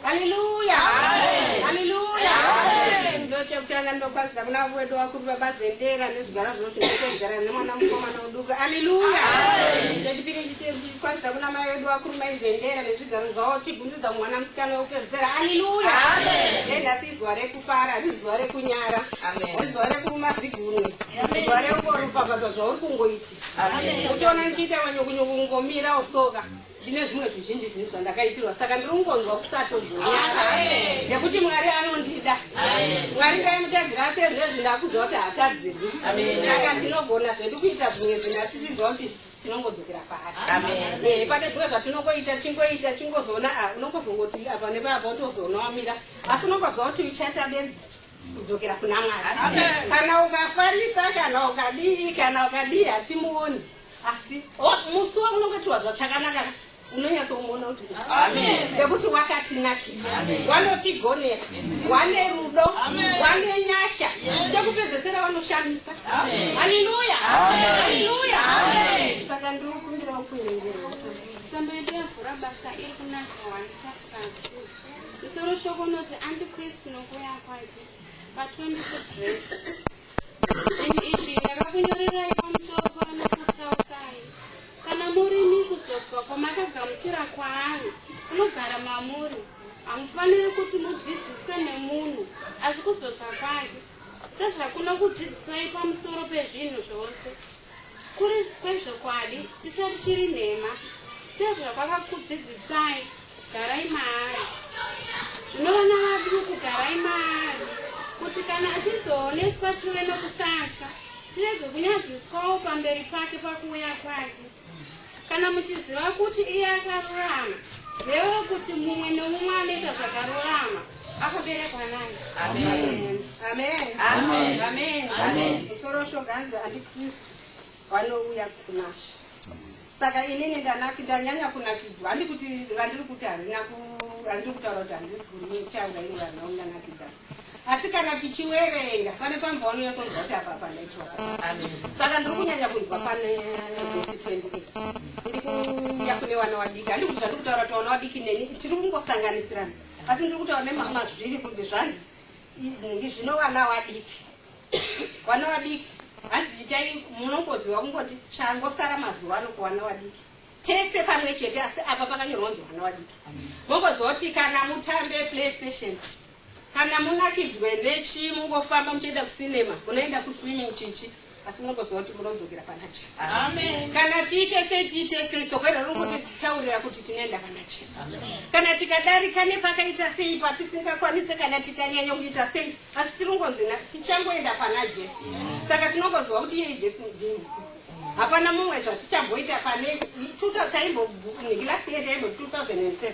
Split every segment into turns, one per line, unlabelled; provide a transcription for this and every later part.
Hallelujah. Amen. Hallelujah. Amen. Ndo chekutanga ndokwaziza kuna avo wedu vakuru baba Zendera nezvigara zvinoti ndokugara nemwana mukomana uduka. Hallelujah. Amen. Ndo chipiri chikwaziza kuna mai wedu vakuru mai Zendera nezvigaro zvavo chibvunzidza mwana musikana wekupedzisira. Hallelujah. Amen. Ndo nhasi izuva rekufara, ari zuva rekunyara. Amen. Ari zuva rekuruma zvigunwe. Amen. Zuva rekungoropafadza zvauri kungoiti. Amen. Uchiona ndichiita manyukunyuku kungomira osoka. Ndine zvimwe zvizhinji zvinhu zvandakaitirwa saka ndiri kungonzwa kusatozonyara nekuti Mwari anondida. Mwari ndaimutadzira asi ezvezvi ndakuziva kuti hatadzirwi. Saka tinogona zvedu kuita zvimwe zvinhu asi tichiziva kuti tinongodzokera paari. Eh, pane zvimwe zvatinongoita chingoita chingozoona ah, unongozongoti apa nepapa utozoona wamira asi unongoziva kuti uchaita benzi kudzokera kuna Mwari. Kana ukafarisa kana ukadii kana ukadii hatimuoni. asi musi waunongatiwa zvachakanaka unonyatsomuona kuti nekuti wakatinakira wanotigonera wane rudo wane nyasha chekupedzesera wanoshamisa haleluya haleluya saka ndiri kumbira ukuerengera tambo yedu yavhura basa iri kunaka 1 chapter 2 musoro shoko unoti andikristu nokuuya kwake Pa 26 zvese. And ichi ndakakunyorerai pamusoro pavana Sakraukai. Kana murimi kuzobva kwamakagamuchira kwaari, kunogara mamuri, hamufaniri kuti mudzidziswe nemunhu, asi kuzobva kwake, sezvakunokudzidzisai pamusoro pezvinhu zvose, kuri kwezvokwadi, chisati chiri nhema, sezvakwakakudzidzisai, Garai maari. Zvino vana vaduku garai maari kuti kana achizooneswa tive nokusatya tirege kunyadziswawo pamberi pake pakuuya kwake. Kana muchiziva kuti iye akarurama, zivai kuti mumwe nomumwe anoita zvakarurama akaberekwa naye. Amen. Amen. Amen. Amen. Amen. Musoro shoganzi andiKristu vanouya kunashe. Saka inini ndanak ndanyanya kunakidzwa handi kuti randiri kuti harina ku randiri kutaura kuti handisi kuritaura ini vanhu vangu ndanakidza asi kana tichiwerenga pane pambaono yatonzwa kuti apa panaitwa saka ndiri kunyanya kunzwa pane vhesi 28 ndiri kuya kune wana wadiki handi kuti zvandiri kutaura kuti wana wadiki neni tiri kungosanganisirana asi ndiri kutaura nemamazviri kuti zvanzi izvi zvino wana wadiki Vana vadiki hanzi itai munongoziva kungoti changosara mazuva ano kuvana vadiki tese pamwe chete asi apa pakanyorwa kunzi vana vadiki mongoziva kuti kana mutambe playstation kana munakidzwe nechi mungofamba muchienda kucinema munoenda kuswimming chichi asi munongoziva kuti munodzokera pana jesu kana tiite sei tiite sei soko iro riri kutitaurira kuti tinoenda pana jesu kana tikadarika nepakaita sei patisingakwanise kana tikanyanya kuita sei Asi tiringonzi na- tichangoenda pana Jesu. Saka tinongoziva kuti iye Jesu mudini. Hapana mumwe zvatichamboita pane 2000 taimbo last year taimbo 2007.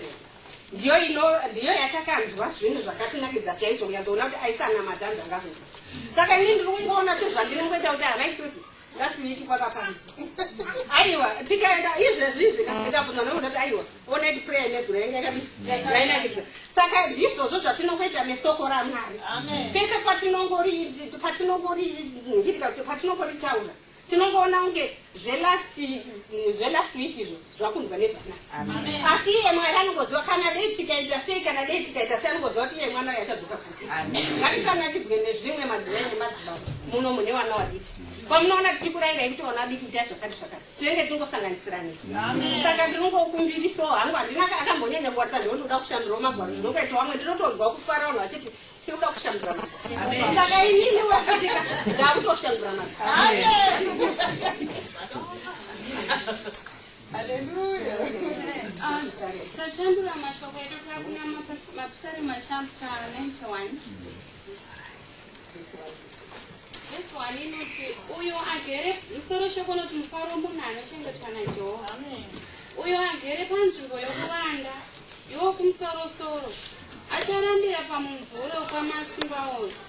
Ndiyo ino ndiyo yatakanzwa zvinhu zvakatinakidza chaizvo kunyanzoona kuti aisanamata anhu angakuita. Saka ini ndiri kungoona sezvandiri ngoita kuti havai Kristu ngasiniki kwakapanzi aiwa tikaenda izvezvi izvi kasikabvunza nokuda kuti aiwa onedi prayer nezuro yanga yainakidza saka ndizvozvo zvatinokuita nesoko ramwari pese patinongori patinongori ngirika kuti patinongoritaura tinongoona kunge zvelast zvelast week izvo zvakunzwa nezvanasi asi iye mwari anongoziva kana dei tikaita sei kana dei tikaita sei anongoziva kuti iye mwana uyo achadzoka kwatiri ngatisanakidzwe nezvimwe madzimai nemadzibaba muno mune vana vadiki pamunoona tichikurairai kuti vana vadiki itai zvakati zvakati tinenge tiringosanganisirani saka ndinongokumbirisawo hangu handina akambonyanya kuwarisa ndinotoda kushandirawo magwaro ndinongoita wamwe ndinotonzwa kufara vanhu vachiti Tinoda kushandura nadzo. Saka inini wekutika ndakutoshandura nadzo. Haleluya. Tashandura mashoko edu takunamata mapisarema chapter 91. Vhesi 1 inoti, Uyo agere, musoro shoko unoti mufaro munhu anochengetwa naJehovha. Uyo agere panzvimbo yokuvanda, iwo kumusorosoro, acharambira pamumvuri wokwaMasimba ose.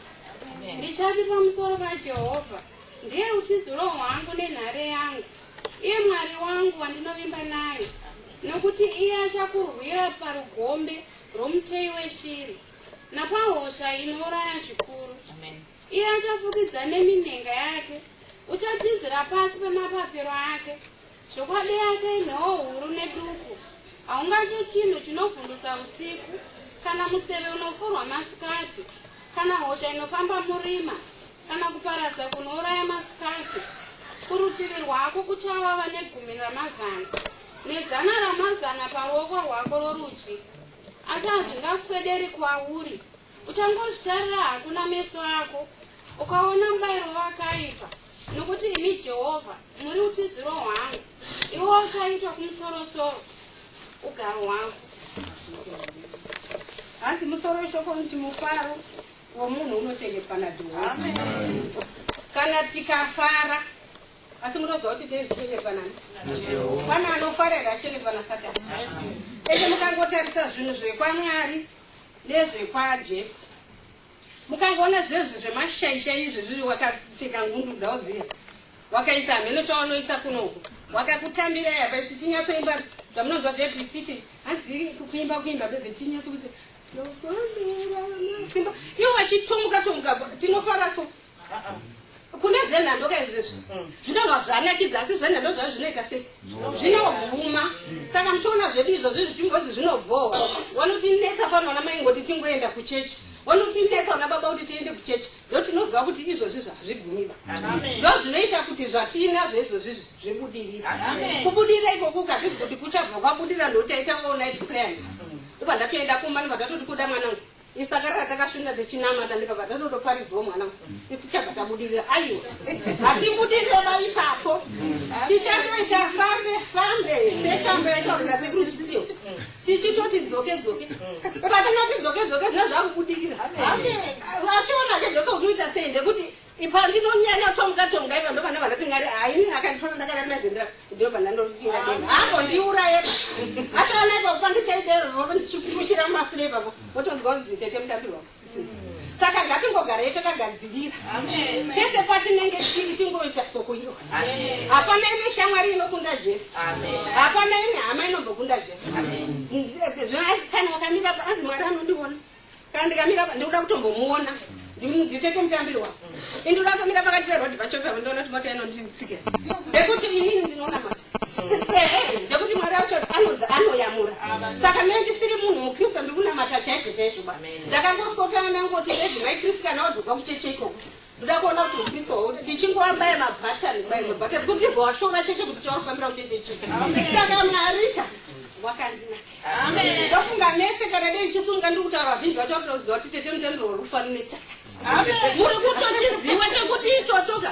Ndichati pamusoro paJehovha, Ndiye utiziro hwangu nenhare yangu, iye Mwari wangu wandinovimba naye, nokuti iye achakurwira parugombe rwomuteyi weshiri, napahosha inouraya zvikuru. Iye achafukidza neminhenga yake, uchatizira pasi pemapapiro ake. Zvokwadi yake inhoo huru neduku, haungatye chinhu chinovhundusa usiku, kana museve unofurwa masikati, kana hosha inofamba murima, kana kuparadza kunouraya masikati. Kurutivi rwako kuchava vane gumi ramazana, nezana ramazana paruoko rwako rworudyi, asi hazvingaswederi kwauri. Uchangozvitarira hako nameso ako, ukaona mubairo wakaipa, nokuti imi Jehovha muri utiziro hwangu, iwo wakaitwa kumusorosoro ugaro hwangu. Hanzi musoro weshoko unoti mufaro womunhu unochengetwa naJehovha. Kana tikafara asi munoziva kuti tei zvichengeta nani pana anofarira achengeta nasatani ese mukangotarisa zvinhu zvekwamwari Nezvekwa Jesu. Mukangoona zvezvi zvemashaisha izvi zviri wakapfeka ngundu dzawo dziya. Wakaisa hameno chawanoisa kuno uko. Wakakutambira yapa isi chinyatsoimba zvamunonzwa date ichiti hanzi kuimba kuimba bedze chinyatso kuti Simba. Iwo wachitumuka tumuka tinofara tu kune zvenhando ka izvezvo zvinova zvanakidza asi zvenhando zvavo zvinoita sei zvinoguma saka muchiona zvedu izvozvi zvichimbodzi zvinobhowa wanotinetsa fana vana mai ngoti tingoenda kuchechi wanotinetsa vana baba kuti tiende kuchechi ndo tinoziva kuti izvozvi zvazvigumiba ndo zvinoita kuti zvatiinazvo izvozvi zvibudirira kubudira ikoku ukazvizi kuti kuchabva kwabudira ndotaita all night prayers ndobva ndatoenda kumba ndobva tatoti kuda mwanangu Isu takarara takashinda tichinamata ndikabva tatotoparidzwa mwana isu tichabva tabudirira aiwa hatibudirire ba ipapo tichatoita fambe fambe setambo yaitaurira sekuru chitiyo tichitoti dzoke dzoke patinoti dzoke dzoke zvinaa zvakubudirira achiona ke zvose kuti uita sei ndekuti Ipa ndinonyanya tomga tomga ipa ndo vana vandati ngari ha ini akanditora ndakarari mazendera ndo vana ndoripinda deni hako ndiuraye pa achaona ipa kupa ndichaita roro ndichikushira mumasure ipapo votonzwa kunzi tete mutambirwa kusisi saka ngatingogara yeto kagadzirira pese patinenge tiri tingoita soko iro hapana imwe shamwari inokunda jesu hapana imwe hama inombokunda jesu kana wakamira paanzi mwari anondiona Kana ndikamira apa ndikuda kutombomuona nditete mutambiro wako. Ini ndikuda kutomira pakati peroad pacho pepo ndoona kuti mota inonditsika. Ndekuti inini ndinoona mota. Ehe, ndekuti Mwari wacho anonzi anoyamura. Saka nei ndisiri munhu muKristu ndikunamata chaizvo chaizvo ba. Ndakangosotana ndangoti veDzimai Kristu kana wazobva kucheche ikoko. ndoda kuona kuti upisto hwo ndichingova mbaye mabhatani mbaye mabhatani kuti ndibva washora chete kuti chaurifambira kuchete chii saka mwarika wakandinakndofunga mese kana dei chisunga ndiri kutaura vazhinji vacho vakutoziva kuti tete mutenderorufanire chakati muri kutochiziva chekuti ichochoka